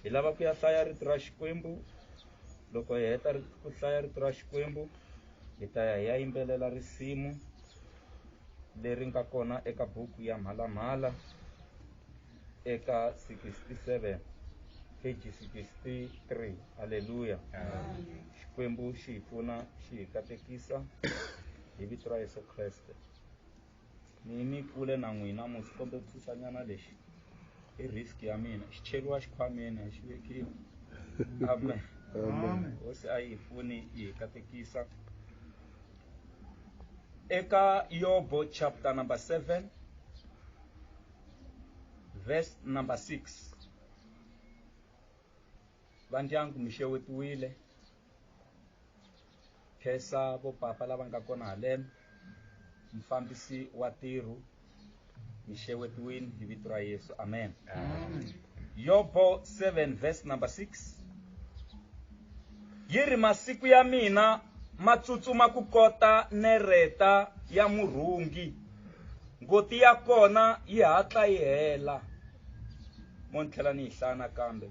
hi lava ku ya hlaya rito ra xikwembu loko hi heta ku hlaya rito ra xikwembu hi ta ya hi ya yimbelela risimu leri nga kona eka buku ya mhalamhala eka 67 page 63 halleluya xikwembu xi hi pfuna xi hi katekisa hi vito ra yesu kreste ni ni kule na n'wina musi kombe ku susanyana lexi i risk ya mina xi cheriwa xikhwameni a xi vekiwi amen Amen. hosi a yi pfuni yi hi katekisa eka yobo chapter number 7 verse number 6 vandyangu mi xewetiwile khensa vo papa lava nga kona haleno mufambisi wa tirhu mi xewetiwini hi vito ra yesu amen yobo 7 verse number 6 yi ri masiku ya mina ma tsutsuma ku kota nereta ya murhungi ngoti ya kona yi hatla yi hela mo ni tlhela ni yi hlaya nakambe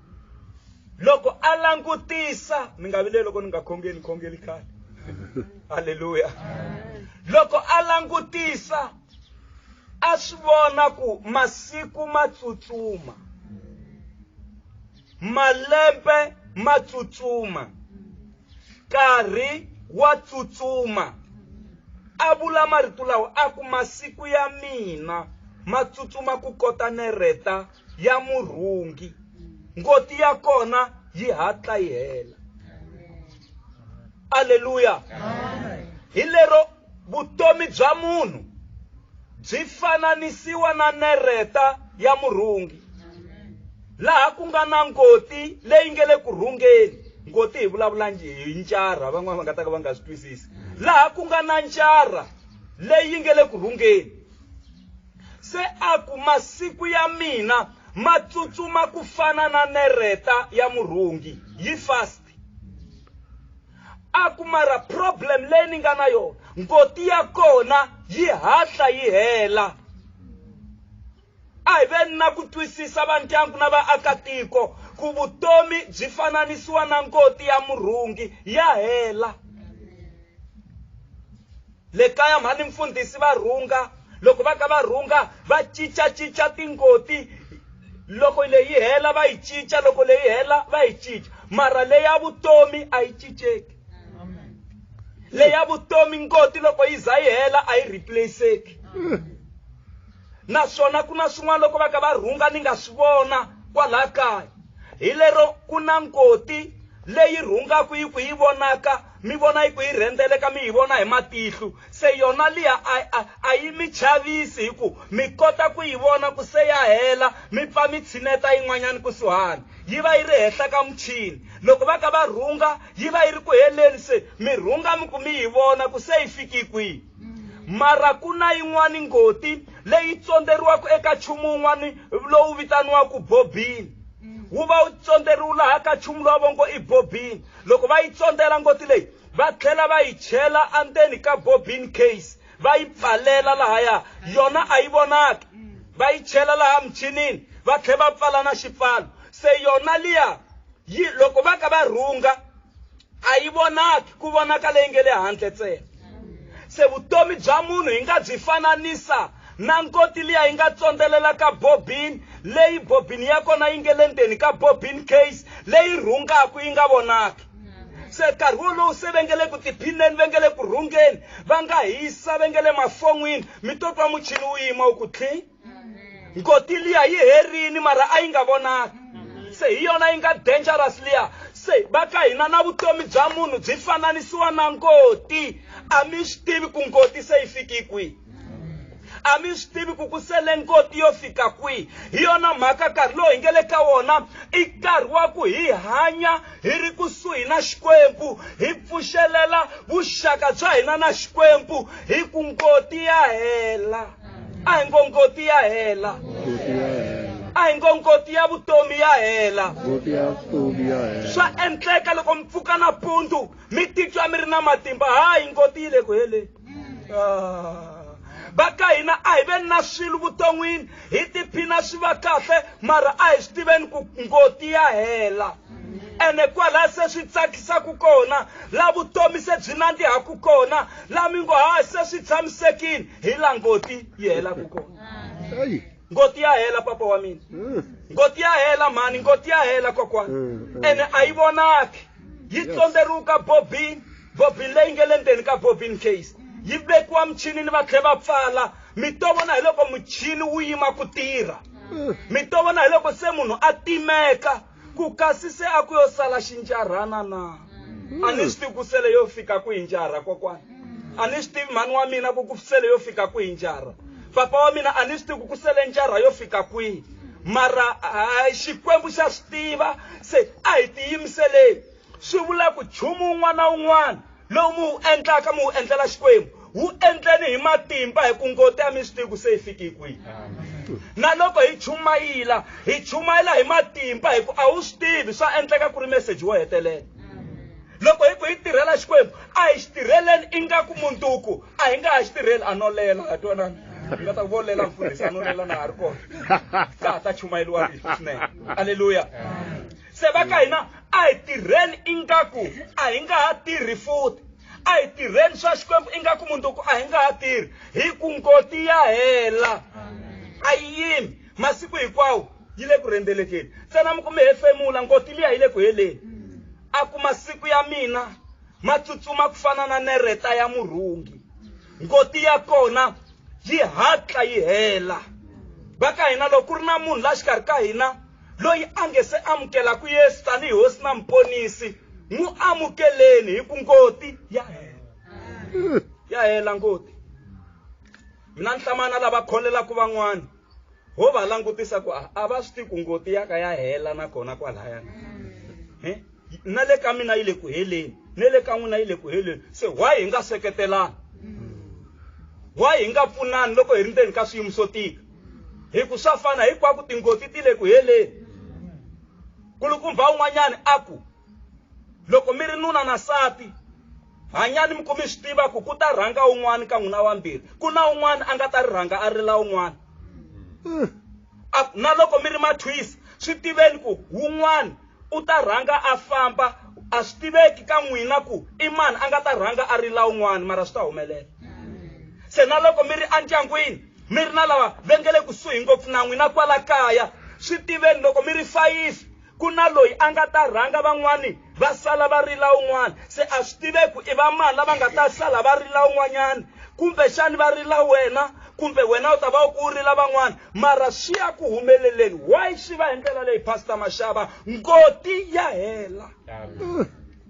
loko a langutisa mi nga vileli loko ni nga khongeli khongeli khale halleluya loko a langutisa a swi vona ku masiku ma tsutsuma malembe ma tsutsuma nkarhi wa tsutsuma a vula marito lawa a ku masiku ya mina ma tsutsuma ku kota nereta ya murhungi ngoti ya kona yi hatla yi hela aleluya hi lero vutomi bya munhu byi fananisiwa na nereta ya murhungi laha ku nga na ngoti leyi nge le ku rhungeni ngoti hi vulavula hi ncarha van'wana va nga ta ka va nga swi twisisi laha ku nga na ncarha leyi nge le ku rhungeni Se a ku, Masiku ya mina ma tsutsuma ku fana na nereta ya murhungi, yi fast. A ku, Mara problem leyi ni nga na yona, ngoti ya kona yi hatla yi hela. A hi veni na ku twisisa va ndyangu na vaakatiko ku vutomi byi fananisiwa na ngoti ya murhungi, ya hela. Le kaya mhani mfundhisi va rhunga loko va ka va rhunga va cincacinca tingoti loko leyi hela va yi cinca loko leyi hela va yi cinca mara leya vutomi a yi cinceki leya vutomi ngoti loko yi za yi hela a yi replaceki naswona ku na swin'wana loko va ka va rhunga ni nga swi vona kwalaha kaya hi lero ku na ngoti leyi rhungaka yi ku yi vonaka Mi vona hi ku yi rhendzeleka mi yi vona hi matihlu, se yona liya a, a, a yi mi chavisi hi ku mi kota ku yi vona ku se ya hela mi pfa mi tshineta yin'wanyana kusuhani. Yi va yi ri henhla ka muchini. Loko va ka va rhunga, yi va yi ri ku heleni se mi rhunga mi ku mi yi vona ku se yi fiki kwihi. Mara ku na yin'wana ngoti leyi tsondzeriwaka eka chumu wun'wana lowu vitaniwaka bobini. Wu va wu tsondzeriwu laha ka chumu lowa vongo i bobini. Loko va yi tsondela ngoti leyi, va tlhela va yi chela andzeni ka bobbin case va yi pfalela lahaya yona a yi vonaki, va yi chela laha michinini va tlhela va pfala na xipfalo. Se yona liya yi loko va ka va rhunga a yi vonaki, ku vonaka leyi nge le handle ntsena. Se vutomi bya munhu hi nga byi fananisa na nkoti liya yi nga tsondzelela ka bobini leyi bobini ya kona yi nge le ndzeni ka bobini case leyi rhungaku yi nga vonaki se nkarhi wolowu se va nge le ku tiphineni va nge le ku rhungeni va nga hisa va nge le mafon'wini mi to twa muchini wu yima wu ku tlhi nkoti liya yi herini mara a yi nga vonaki se hi yona yi nga dangerous liya se va ka hina na vutomi bya munhu byi fananisiwa na ngoti a mi swi tivi ku ngoti se yi fiki kwihi a mi swi tivi ku ku sele nkoti yo fika kwihi hi yona mhaka nkarhi lowu hi nge le ka wona i nkarhi wa ku hi hanya hi ri kusuhi na xikwembu hi pfuxelela vuxaka bya hina na xikwembu hi ku nkoti ya hela a hi ngo nkoti ya hela a hi ngo nkoti ya vutomi ya hela swa endleka loko mi pfuka nampundzu mi titwa mi ri na matimba hayi nkoti yi le ku heleni Ah. va ka hina a hi veni na swilo vuton'wini hi tiphina swi va kahle mara a hi swi tiveni ku ngoti ya hela ene kwalaha se swi tsakisaka kona la vutomi se byi nandzihaku kona la mi ngo ha se swi tshamisekile hi la ngoti yi helaku kona ngoti ya hela papa wa mina mm. ngoti ya hela mhani ngoti ya hela kokwana mm, mm. ene a yi vonaki yi tsonderuka bobini bobini leyi nge le ndzeni ka bobini case yi vekiwa muchini ni va tlhe va pfala mi to vona hi loko muchini wu yima ku tirha mi to vona hi loko se munhu a timeka ku kasi se a ku yo sala xinjarhana na a ni swi tivi ku sele yo fika ku hi njarha kokwana a ni swi tivi mhani wa mina ku ku sele yo fika ku hi njarha papa wa mina a ni swi tivi ku ku sele njarha yo fika kwihi mara hayi xikwembu xa swi tiva se a hi tiyimiseleni swi vula ku nchumu wun'wana na wun'wana lowu mi wu endlaka mi wu endlela xikwembu wu endleni hi matimba hi ku ngoti a mi swi tivi ku se yi fiki hi kwihi na loko hi chumayila hi chumayela hi matimba hi ku a wu swi tivi swa endleka ku ri meseji wo hetelela loko hi ku hi tirhela xikwembu a hi xi tirheleni ingaku munduku a hi nga ha xi tirheli a no lela ha twanana hi nga ta vo lela mfundhisi a no lela na ha ri kona ka ha ta chumayeliwa rito swinene aleluya se va ka hina a hi tirheni ingaku a hi nga ha tirhi futhi a hi tirheni swa xikwembu ingaku mundzuku a hi nga ha tirhi hi ku ngoti ya hela a yi yimi masiku hinkwawo yi le ku rhendzelekeni ntsena mi ku mi hefemula ngoti liya yi le ku heleni a ku masiku ya mina ma tsutsuma ku fana na nereta ya murhungi ngoti ya kona yi hatla yi hela va ka hina loko ku ri na munhu la xikarhi ka hina loyi a nge se amukelaka yesu tanihi hosi na muponisi n'wi amukeleni hi ku ngoti ya hela ya hela ngoti mina ni hlamana lava kholelaka van'wana ho va langutisa ku a va swi tiku ngoti ya ka ya hela nakona kwalaya na le ka mina yi le ku heleni ne le ka n'wina yi le ku heleni se why hi nga seketelani why hi nga pfunani loko hi ri ndzeni ka swiyimo swo tika hi ku swa fana hinkwako tingoti ti le ku heleni kulukumba un'wanyana a ku loko mi ri nuna na sati hanyani mi ku mi swi tiva ku ku ta rhanga un'wana ka n'wina wambirhi ku na un'wana a nga ta ri rhanga a rila un'wana hmm. na loko mi ri mathwisa swi tiveni ku wun'wana u ta rhanga a famba a swi tiveki ka n'wina ku i mani a nga ta rhanga a ri la un'wana mara swi ta humelela se na loko mi ri endyangwini mi ri na lava va nge le kusuhi ngopfu na n'wina kwala kaya swi tiveni loko mi ri fayifi ku na loyi a nga ta rhanga van'wani va sala va rila un'wana se a swi tiveki i va mani lava nga ta sala va rila un'wanyana kumbexani va rila wena kumbe wena u ta va u ku u rila van'wana mara swi ya ku humeleleni why swi va hi ndlela leyi pastor maxava ngoti ya hela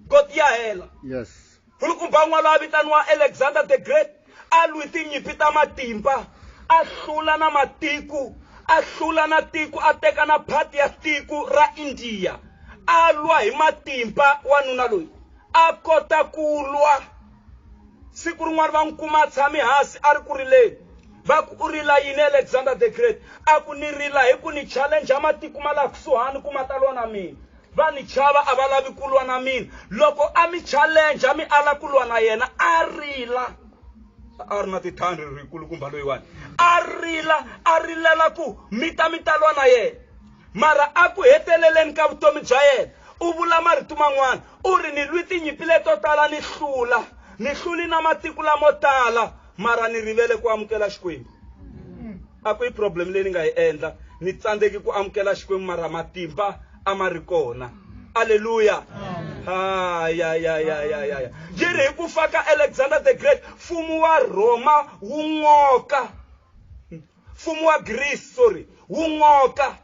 ngoti ya hela yes nkulukumba un'wana loyi a vitaniwa alexander the great a lwi tinyimpi ta matimba a hlula na matiko a hlula na tiko a teka na phati ya tiko ra indiya a lwa hi matimba wanuna loyi a kota ku lwa siku rin'wana va n'wi kuma a tshami hansi a ri ku rileni Va ku, U rila yini, Alexander the Great? A ku, Ni rila hi ku ni chalenja matiko ma laha kusuhani ku ma ta lwa na mina. Va ni chava, a va lavi ku lwa na mina. Loko a mi chalenja mi ala ku lwa na yena, a rila. A a ri na tithandri rikulukumba loyiwani. A rila, a rilela ku mi ta mi ta lwa na yena. Mara a ku heteleleni ka vutomi bya yena, u vula marito man'wana, u ri, Ni lwi tinyimpi leto tala ni hlula, ni hluli na matiko lamo tala. mara ni rivele ku amukela xikwembu a ku yi problem leyi ni nga yi endla ni tsandzeki ku amukela xikwembu mara matimba a ma ri kona aleluya hayayayayaya yi ri hi ku fa ka alexander the great mfumo wa rhoma wu ngoka mfumo wa greece sorry wu ngoka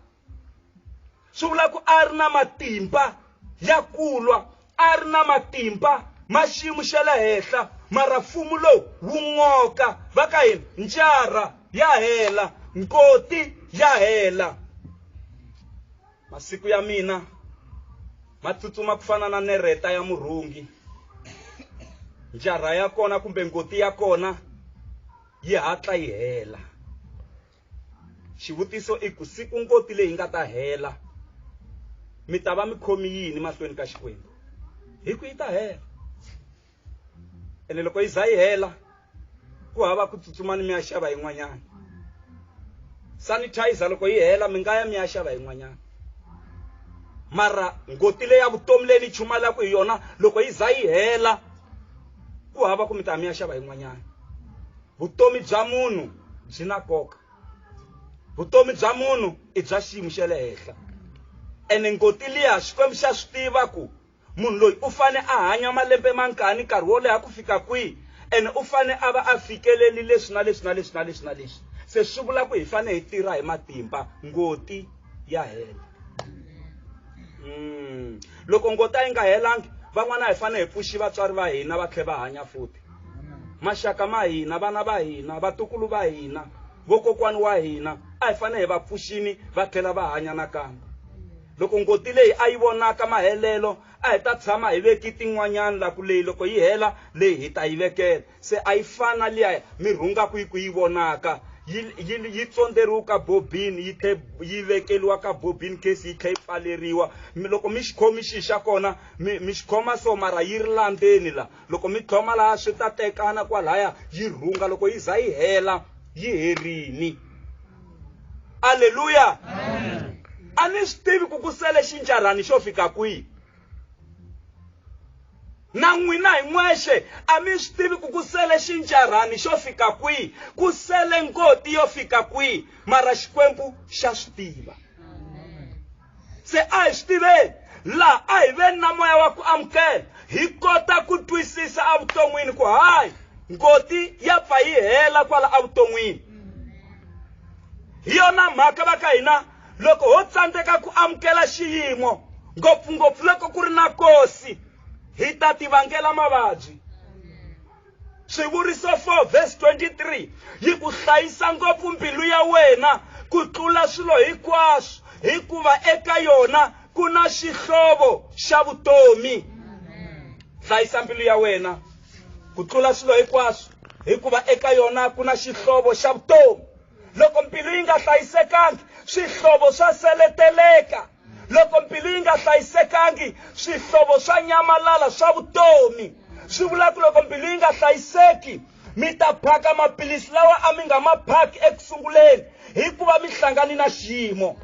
swi vula ku a ri na matimba ya kulwa a ri na matimba ma xiyimo xa le henhla mara mfumo lowu wu n'oka va ka hina ncara ya hela nkoti ya hela masiku ya mina ma tsutsuma ku fana na nereta ya murhungi njarha ya kona kumbe ngoti ya kona yi hatla yi hela xivutiso i ku siku ngoti leyi nga ta hela mi ta va mi khomi yini mahlweni ka xikwembu hi ku yi ta hela ene loko yi za yi hela ku hava ku tsutsuma ni mi ya xava yin'wanyana sanitizer loko yi hela mi nga ya mi ya xava yin'wanyana mara ngoti leyi ya vutomi leyi ni chumalaka hi yona loko yi za yi hela ku hava ku mi ta mi ya xava yin'wanyana vutomi bya munhu byi na nkoka vutomi bya munhu i bya xiyimo xa le henhla ene ngoti liya xikwembu xa swi tiva ku munhu loyi u fane a hanya malembe mangani nkarhi wo leha ku fika kwihi ene u fane a va a fikeleli leswi na leswi na leswi na leswi na leswi se swi vula ku hi fane hi tirha hi matimba ngoti ya hela mm. loko ngoti a yi nga helangi van'wana hi fane hi pfuxi vatswari va hina va tlhe va hanya futhi maxaka ma hina vana va hina vatukulu va hina vokokwani wa hina a hi fanele hi va pfuxini va tlhela va hanya nakambe loko ngoti leyi a yi vonaka mahelelo a hi ta tshama hi veki tin'wanyana la ku leyi loko yi hela leyi hi ta yi vekela se a yi fana liya mi rhungaku yi ku yi vonaka yi tsondzeriwa ka bobini yi tlhe yi vekeliwa ka bobini case yi tlhe yi pfaleriwa loko mi xikhomi xi xa kona mi xi khoma so mara yi ri landzeni la Loko mi tlhoma laha swi ta tekana kwalaya yi rhunga loko yi za yi hela yi herini. Aleluya. A ni swi tivi ku ku sele xinjarhani xo fika kwihi. na n'wina hi n'wexe a mi swi tivi ku ku sele xinjarhani xo fika kwihi ku sele ngoti yo fika kwihi mara xikwembu xa swi tiva se a hi swi tiveni laha a hi veni na moya wa ku amukela hi kota ku twisisa evuton'wini ku hayi ngoti ya pfa yi hela kwala evuton'wini hi yona mhaka va ka hina loko ho tsandzeka ku amukela xiyimo ngopfungopfu loko ku ri na kosi hi ta tivangela mavabyi Swivuriso 4 verse 23 yi ku hlayisa ngopfu mbilu ya wena ku tlula swilo hinkwaswo hikuva eka yona ku na xihlovo xa vutomi hlayisa mbilu ya wena ku tlula swilo hinkwaswo hikuva eka yona ku na xihlovo xa vutomi loko mbilu yi nga hlayisekangi swihlovo swa seleteleka Loko mbilu yi nga hlayisekangi, swihlovo swa nyamalala swa vutomi. Swi vula ku loko mbilu yi nga hlayiseki, mi ta phaka maphilisi lawa a mi nga ma phaki eku sunguleni hikuva mi hlangane na xiyimo.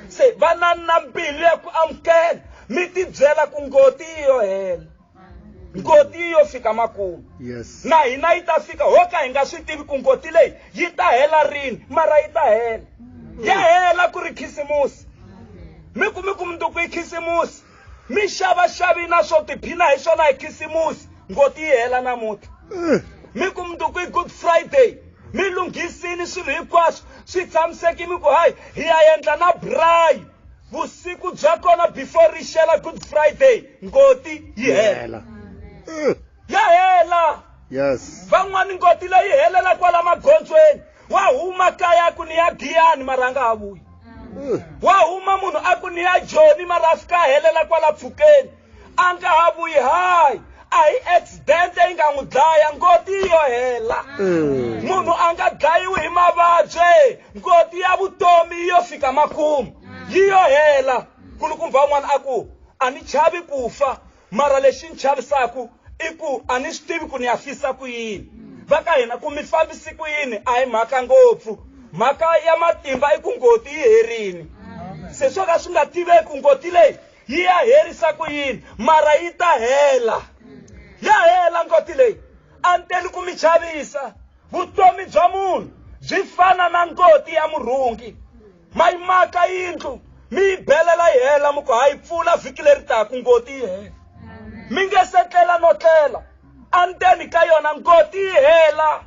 Se vanani na mbilu ya ku amukela, mi tibyela ku ngoti yi yo hela. ngoti yo fika makumu yes. na hina yi ta fika ho ka hi nga swi tivi ku ngoti leyi yi ta hela rini mara yi ta hela ya hela ku ri khisimusi mi kumi ku munduku yi khisimusi mi xavaxavi na swo tiphina hi swona hi khisimusi ngoti yi hela namuti eh. mi ku munduku yi good friday mi lunghisini swilo hinkwaswo swi tshamiseki mi ku hayi hi ya endla na brayi vusiku bya kona before ri xela good friday ngoti yi hela ya hela yes van'wani ngoti leyi helela kwala magondzweni wa huma kaya ku ni ya giyani marhanga ha vuyi wa huma munhu a ku ni ya joni mara a fika a helela kwala pfhukeni a nga ha vuyi hayi a hi accident yi nga n'wi dlaya ngoti yi yo hela mm. munhu a nga dlayiwi hi mavabyi ngoti ya vutomi yi yo fika makumu yi yo hela kulukumba un'wana a ku a ni chavi ku fa mara lexi ni chavisaku i ku a ni swi tivi ku ni ya fisa ku yini va ka hina ku mi fambisi ku yini a hi mhaka ngopfu mhaka ya matimba i ku ngoti yi herini se swo ka swi nga tiveki ngoti leyi yi ya herisa ku yini mara yi ta hela ya hela ngoti leyi a ni teli ku mi chavisa vutomi bya munhu byi fana na ngoti ya murhungi ma yi maka yindlu mi yi belela yi hela mi ku ha yi pfula vhiki leri taka ngoti yi hela mi nge se tlela no tlela endzeni ka yona ngoti yi hela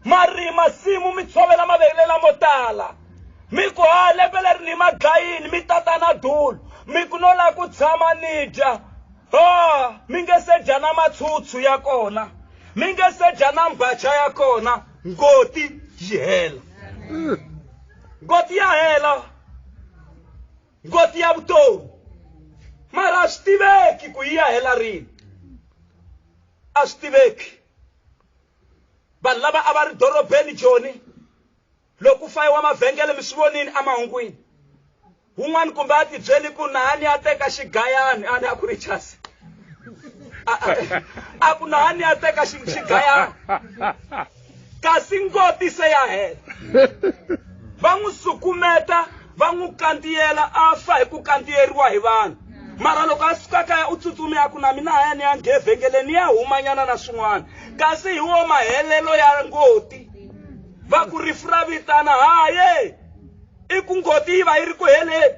marima simu mi tshovela mavele lamo tala mi ku ha lembe leri ni ma dlayini mi tata na dulo mi ku no lava ku tshama ni dya o mi nge se dya na matshutsu ya kona mi nge se dya na mbacha ya kona ngoti yi hela ngoti ya hela ngoti ya vutomi mara a swi tiveki ku yi ya hela rini a swi tiveki vanhu lava a va ri dorobeni joni loko fayiwa mavhengele mi swi vonini emahungwini wun'wani kumbe a tibyeli ku nahani a teka xigayani a ni a ku ri chasi a ku nahani a teka xigayani Kasi ngoti se ya hela. Va n'wi sukumeta, va n'wi kantiyela, a fa hi ku kantiyeriwa hi vanhu. mara loko a suka kaya u tsutsumi ya ku na mina haya ni ya nge evhengeleni ya humanyana na swin'wana kasi hi wo mahelelo ya ngoti va ku rifu ra vitana haye i ku ngoti yi va yi ri ku heleni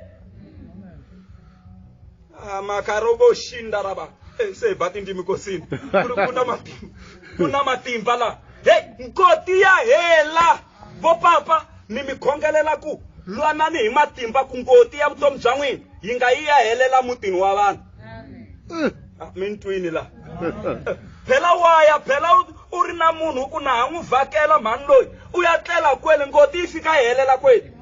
Ah, makarovo shinda rava Eh, se hi ba tindzimi kosini ku ri ku na matimba ku na matimba laha heyi nkoti ya hela vo papa mi mi khongelela ku lwanani hi matimba ku ngoti ya vutomi bya n'wina yi nga yi ya helela mutini wa vanhu Ah, mi ni twini laha phela waya phela u ri na munhu u ku na ha n'wi vhakela mhani loyi u ya tlela kwele ngoti yi fika yi helela kweli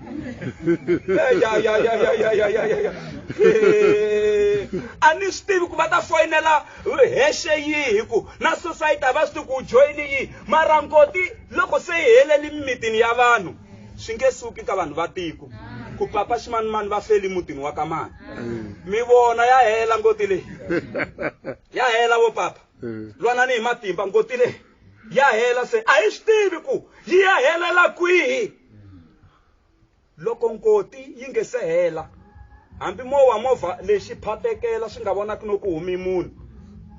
a ni swi tivi ku va ta foyinela hexe yihi hi ku na society a va swi tivi ku joyini yihi mara ngoti loko se yi heleli mimitini ya vanhu swi nge suki ka vanhu va tiko ku papa ximanimani va feli mutini wa ka mani mi vona ya hela ngoti leyi ya hela vo papa lwanani hi matimba ngoti leyi ya hela se a yi swi tivi ku yi ya helela kwihi loko ngoti yi nge se hela hambi mo wa movha lexi phatekela swi nga vonaki no ku humi munhu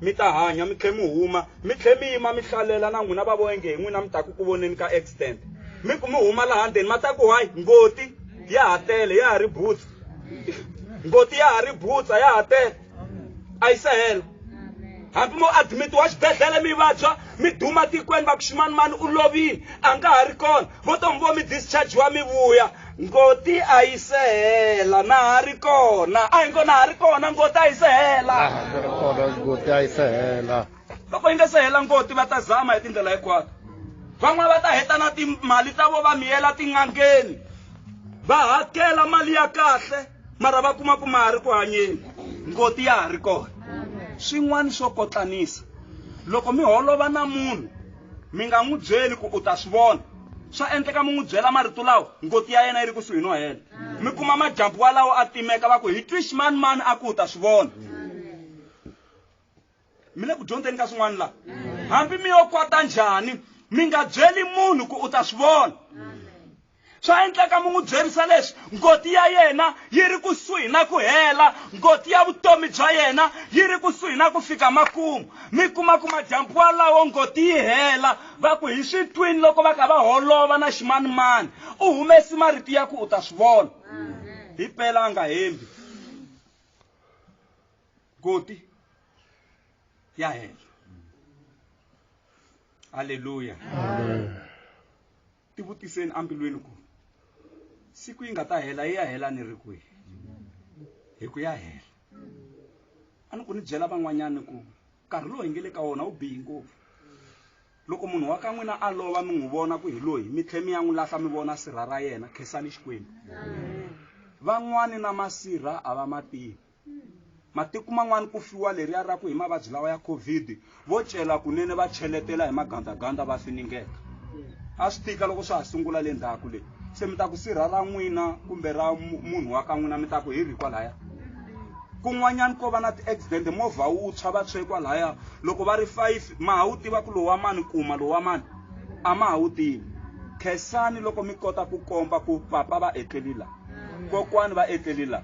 mi ta hanya mi tlhe mi huma mi tlhe mi yima mi hlalela na n'wina va voenge hi n'wina mi ta ku ku voneni ka accident mi ku mi huma laha ndzeni ma ta ku hayi ngoti ya ha tele ya ha ri butsa ngoti ya ha ri butsa ya ha tele a yi se hela hambi mo admitiwa xibedhlele mi vabya mi duma tikweni va ku ximanimani u lovile a nga ha ri kona vo tomi vo mi dischargiwa mi vuya ngoti a yi se hela na ha ri kona a hi ngo na ha ri kona ngoti a yi se hela ngoti a yi se hela loko yi nga se hela ngoti va ta zama hi tindlela hinkwato van'wana va ta heta na timali ta vo va miyela tin'angeni va hakela mali ya kahle mara va kuma ku ma ha ri ku hanyeni ngoti ya ha ri kona swin'wana swo kotlanisa loko mi holova na munhu mi nga n'wi byeli ku u ta swi vona swa endleka mi n'wi byela marito lawa ngoti ya yena yi ri kusuhi no hela mi kuma majambu walawo a timeka va ku hi twi ximani mani a ku u ta swi vona mi le ku dyondzeni ka swin'wana laha hambi mi yo kwata njhani mi nga byeli munhu ku u ta swi vona swa endleka mi n'wi byerisa leswi ngoti ya yena yi ri kusuhi na ku hela ngoti ya vutomi bya yena yi ri kusuhi na ku fika makumu mi kuma ku madyambu walawo ngoti yi hela va ku hi swi twini loko va kha va holova na ximanimani u humesi marito ya ku u ta swi vona hi pela a nga hembi koti ya hela halleluya ti vutiseni ambilweni ku siku yi nga ta hela yi ya hela ni ri kwihi hi ku ya hela a ni ku ni byela van'wanyana ku nkarhi lowu hi nge le ka wona wu bihi ngopfu loko munhu wa ka n'wina a lova mi n'wi vona ku hi loyi mi tlhe mi ya n'wi lahla mi vona sirha ra yena khensani xikwembu van'wani na masirha a va mativi matiko man'wana ku fiwa leriya ra ku hi mavabyi lawa ya covid vo cela kunene va cheletela hi magandaganda va finingeka a swi tika loko swa ha sungula le ndzhaku leyi se mi ta ku sirha ra n'wina kumbe ra munhu wa ka n'wina mi ta ku hi ri kwalaya kun'wanyana ko va na ti-accident movha wu tshwa va tshwe kwalaya loko va ri five ma ha wu tiva ku lowu wa mani kuma lowu wa mani a ma ha wu tivi khensani loko mi kota ku komba ku papa va etleli laha kokwani va etleli la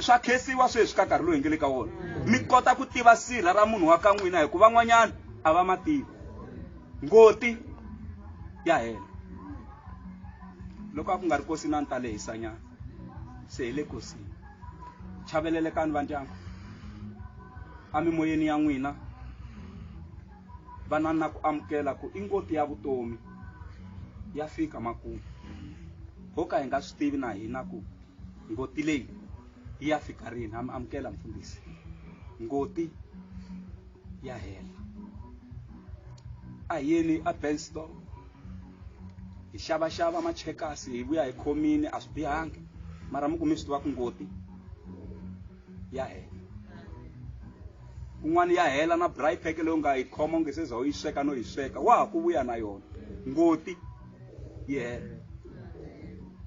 swa khesiwa sweswi ka nkarhi lowu hi nge le ka wona mi kota ku tiva sirha ra munhu wa ka n'wina hikuva n'wanyana a va ma tivi ngoti ya hela loko a ku nga ri kosi na ni ta lehisanyana se hi le kosini chavelelekani vandyangu a mimoyeni ya n'wina Vanani na ku amukela ku i ngoti ya vutomi ya fika makumu ho ka hi nga swi tivi na hina ku ngoti leyi yi ya fika rini ha mi amukela mfundhisi ngoti ya hela a hi yeni a benstol hi xavaxava machekasi hi vuya hi khomini a swi bihangi mara mi ku mi swi tiva ku ngoti ya hela un'wana ya hela na braai pack leyi u nga yi khoma u nge se za u yi sweka no yi sweka wa ha ku vuya na yona ngoti yi hela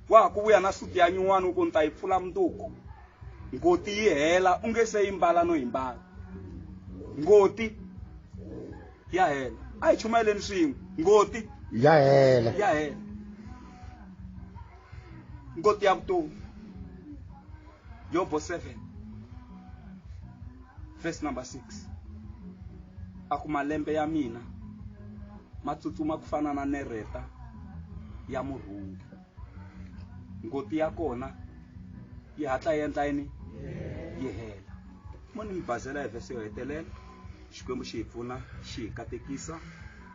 wa ha ku vuya na suti ya nyin'wana u ku ni ta yi pfula munduku ngoti yi hela u nge se yi mbala no yi mbala ngoti ya hela a hi chumayeleni swin'we ngoti ya hela ya hela God ya to Job verse 7 verse number 6 a ku malembe ya mina ma tsutsuma ku fana na nereta ya murhungi ngoti ya kona yi hatla yi endla yini yi hela mo ni mi bazela hi vhesi yo hetelela xikwembu xi hi pfuna xi hi katekisa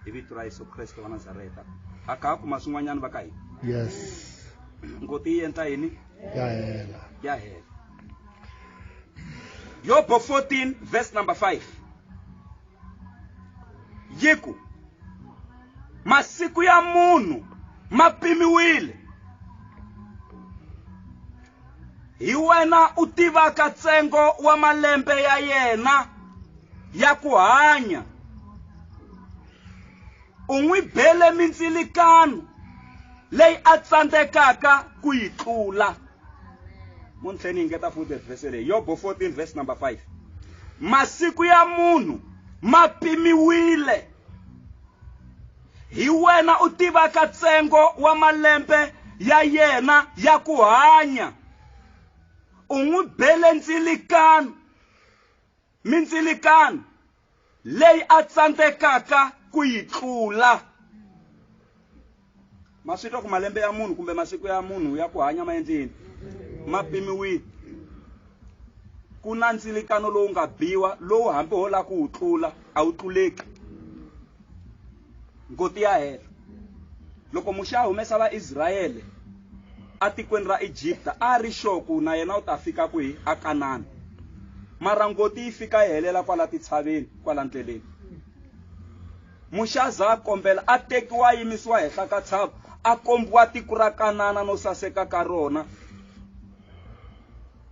hi vito ra yesu kreste wa nazareta a ka kuma swin'wanyana va ka hina yes ngoti yi endla yini ya hela ya hela yobo 14 verse number 5 yi ku masiku ya munhu ma pimiwile hi wena u tivaka ntsengo wa malembe ya yena ya ku hanya u n'wi bele mindzilikano leyi a tsandzekaka ku yi tlula muntlheni yi ngeta futhi vhese leyi yobo 14 vhese number 5 masiku ya munhu ma pimiwile Hi wena u tivaka ntsengo wa malembe ya yena ya ku hanya. U n'wi bele ndzilikano, mindzilikano leyi a tsandzekaka ku yi tlula. Ma swi twa ku malembe ya munhu kumbe masiku ya munhu ya ku hanya ma endleni ma pimiwile. ku na ntsilikano lowu nga biwa lowu hambi ho lava ku wu tlula a wu tluleki ngoti ya hela loko muxe a humesa vaisrayele atikweni ra egipta a ri xoku na yena u ta fika kwihi a kanana mara ngoti yi fika yi helela kwala titshaveni kwala ndleleni muxe a za a kombela a tekiwa a yimisiwa henhla ka tshava a kombiwa tiko ra kanana no saseka ka rona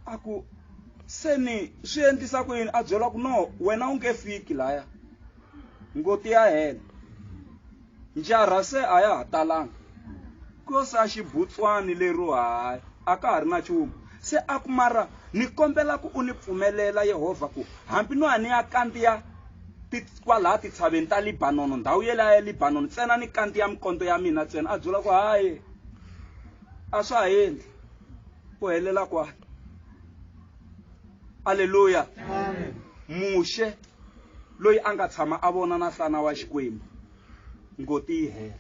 a ku se ni swi endlisa ku yini a byela ku no wena u nge fiki laya ngoti ya hela njara se a ya ha talanga ku yo sa xibutswani lero hayi a ka ha ri na nchumu se a ku mara ni kombela ku u ni pfumelela yehovha ku hambi no ya ni ya kandziya kwalaha titshaveni ta libanono ndhawu yelaya ya libanono ntsena ni kandziya mikondo ya mina ntsena a byela ku hayi a swa ha endli pohelela kwakhe aleluya muxe loyi a nga tshama a vona na nhlana wa xikwembu ngoti yi hela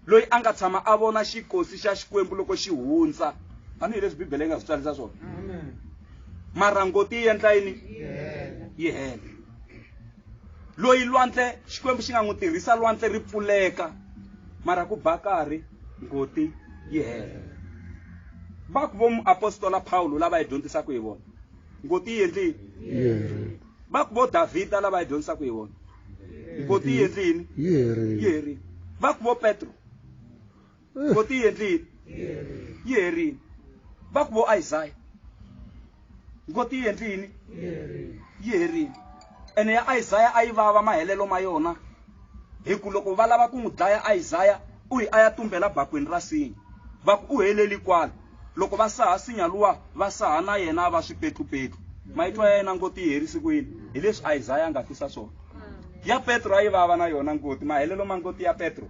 loyi a nga tshama a vona xikosi xa xikwembu loko xi hundza tanihileswi bibele yi nga swi tswarisa swona mara ngoti yi endla yini yi hela loyi lwandle xikwembu xi nga n'wi tirhisa lwandle ri pfuleka mara ku ba karhi ngoti yi hela va ku vo muapostola pawulo lava yi dyondzisaka hi vona ngoti yi endlini va ku vo davhida lava yi dyondzisaka hi vona ngoti yi endlini yi herile va ku vo petro vo ti endlile yi herile va ku vo isaya ngo ti endlini yi herile ene ya isaya a yi vava mahelelo ma yona hi ku loko va lava ku n'wi dlaya isaya u yi a ya tumbela bakweni ra sinya va ku u heleli kwala loko va saha sinya luwa va saha na yena a va swipetlupetlu mayitwa ya yena ngoti yi herisi ku yini hi leswi isaya a nga fisa swona ya petro a yi vava na yona ngoti mahelelo ma ngoti ya petro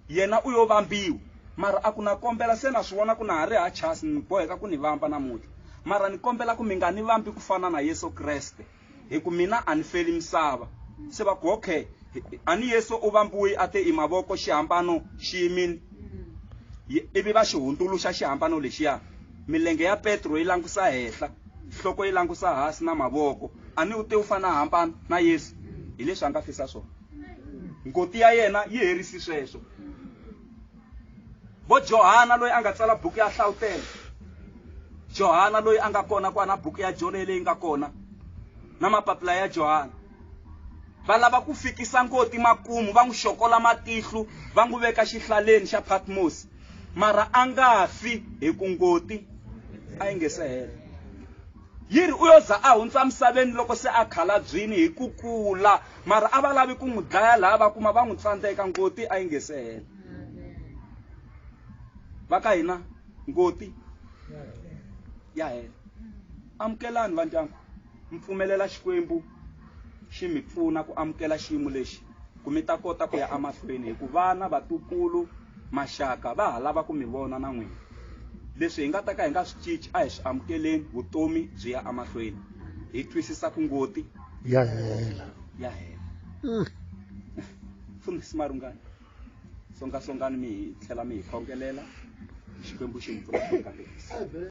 Yena u yo vambiwa. Mara a ku, Na kombela, se na swi vona ku na ha ri ha chasi, ni boheka ku ni vamba namuntlha. Mara ni kombela ku mi nga ni vambi ku fana na Yesu Kreste, hi ku mina a ni feli misava. Se va ku, Okay, a ni Yesu u vambiwe a te i mavoko, xihambano xi yimile. Ye, ivi va xi hundzuluxa xihambano lexiya. Milenge ya Petro yi langusa henhla, nhloko yi langusa hansi na mavoko. A ni u te u fana hambana na Yesu, hi leswi a nga fisa swona. ngoti ya yena yi herisi sweswo vo johana loyi a nga tsala buku ya hlawutela johana loyi a nga kona kwana buku ya jone leyi nga kona na mapapila ya johana va lava ku fikisa ngoti makumu va n'wi xokola matihlu va n'wi veka xihlaleni xa patmos mara a nga fi hi ku ngoti a yi nge se hela Yi ri, U yo za a hundza emisaveni loko se a khalabyini hi ku kula. Mara a va lavi ku n'wi dlaya laha va kuma va n'wi tsandzeka, ngoti a yi nge se hela. Va ka hina, ngoti ya hela. Amukelani vandyangu, mi pfumelela Xikwembu xi mi pfuna ku amukela xiyimo lexi. ku mi ta kota ku ya emahlweni hi ku vana vatukulu maxaka va ha lava ku mi vona na n'wina leswi hi nga ta ka hi nga swi cinci a hi swi amukeleni vutomi byi ya emahlweni hi twisisa ku ngoti ya hela ya hela mm. fundhisi marungani songasongani mi hi tlhela mi hi khongelela xikwembu xi mi pfuna